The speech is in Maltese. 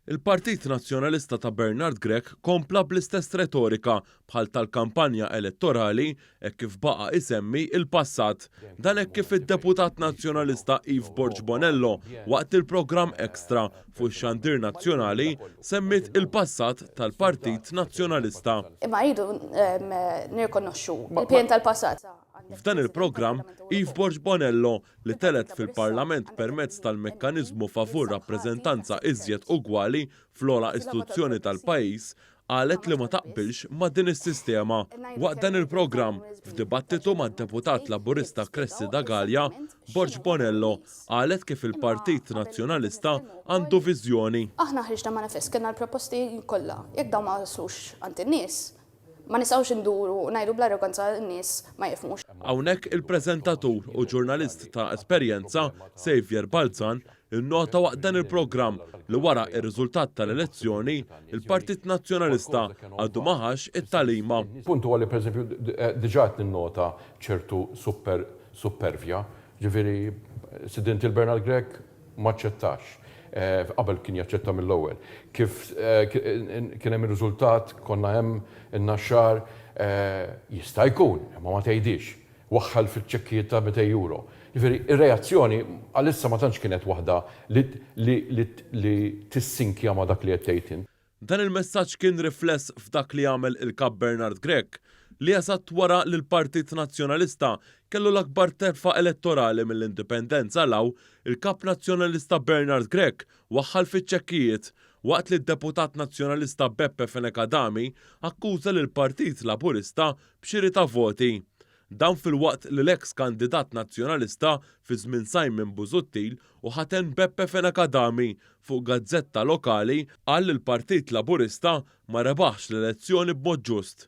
Il-Partit Nazzjonalista ta' Bernard Grech kompla bl-istess retorika bħal tal-kampanja elettorali hekk kif baqa' isemmi l-passat. Dan hekk kif id-Deputat Nazzjonalista Eve Borg Bonello waqt il-programm Extra fuq ix-xandir nazzjonali semmiet il-passat tal-Partit Nazzjonalista. Imma rridu nirrikonoxxu l-pien tal-passat. F'dan il-programm, Eve Borg Bonello li telgħet fil-Parlament permezz tal-mekkaniżmu favur rappreżentanza iżjed ugwali fl-ogħla istituzzjoni tal-pajjiż, qalet li ma taqbilx ma' din is-sistema. Waqt dan il-programm, f'dibattitu mad-Deputat Laburista Cressida Galea, Borg Bonello qalet kif il-Partit Nazzjonalista għandu viżjoni. Aħna ħriġna manifest, kellna l-proposti kollha. Jekk dawn ma waslux għand in-nies, Ma nistgħux induru u ngħidu bl-arroganza li n-nies ma jifhmux. Hawnhekk il-preżentatur u ġurnalist ta' esperjenza, Saviour Balzan, innota waqt dan il-programm li wara r-riżultat tal-elezzjoni, il-Partit Nazzjonalista għadu ma ħax it-tagħlima. Il-punt huwa li pereżempju diġà qed ninnota ċertu supervja, jiġifieri Sidien Till Bernard Grech, m'aċċettax. Qabel kien jaċċetta mill-ewwel. Kif kien hemm ir-riżultat, konna hemm in-Naxxar, Jista' jkun, imma ma tgħidhiex. Waħħal fiċ-ċekkijiet ta' mitej euro. Jiġifieri, ir-reazzjoni għalissa ma tantx kienet waħda li li li li tissinkja ma' dak li qed tgħid int. Dan il-messaġġ kien rifless f'dak li għamel il-Kap Bernard Grech, li eżatt wara li l-Partit Nazzjonalista kellu l-akbar telfa elettorali mill-Indipendenza 'l hawn, il-Kap Nazzjonalista Bernard Grech waħħal fiċ-ċekkijiet, waqt li d-Deputat Nazzjonalista Beppe Fenech Adami akkuża lill-Partit Laburista b'xiri ta' voti. Dan filwaqt li l-eks kandidat Nazzjonalista fi żmien Simon Busuttil u ħaten Beppe Fenech Adami fuq gazzetta lokali qal li l-Partit Laburista ma rebaħx l-elezzjoni b'mod ġust.